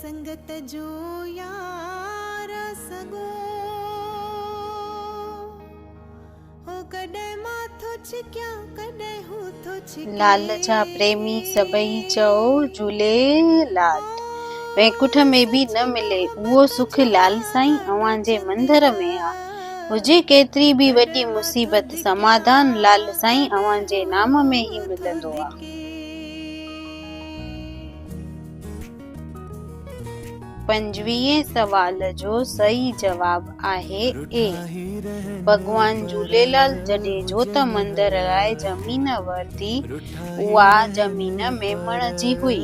سنگت جو يار سڳو هو ڪڏهن مان ٿو ڇڪيان ڪڏهن هو ٿو ڇڪي. لال جا پريمي سڀئي چئو جهوليلال. وينڪٺ ۾ به نه ملي اهو سک لال سائين اوهان جي مندر ۾ آ. هجي ڪيتري به وڏي مصيبت سماڌان لال سائين اوهان جي نام ۾ ئي ملندو آ. پنجويهين سوال جو صحيح جواب آهي اي. ڀڳوان جهوليلال جڏيجو ته مندر لاء زمين ورتي اها زمين ميمڻ جي هئي.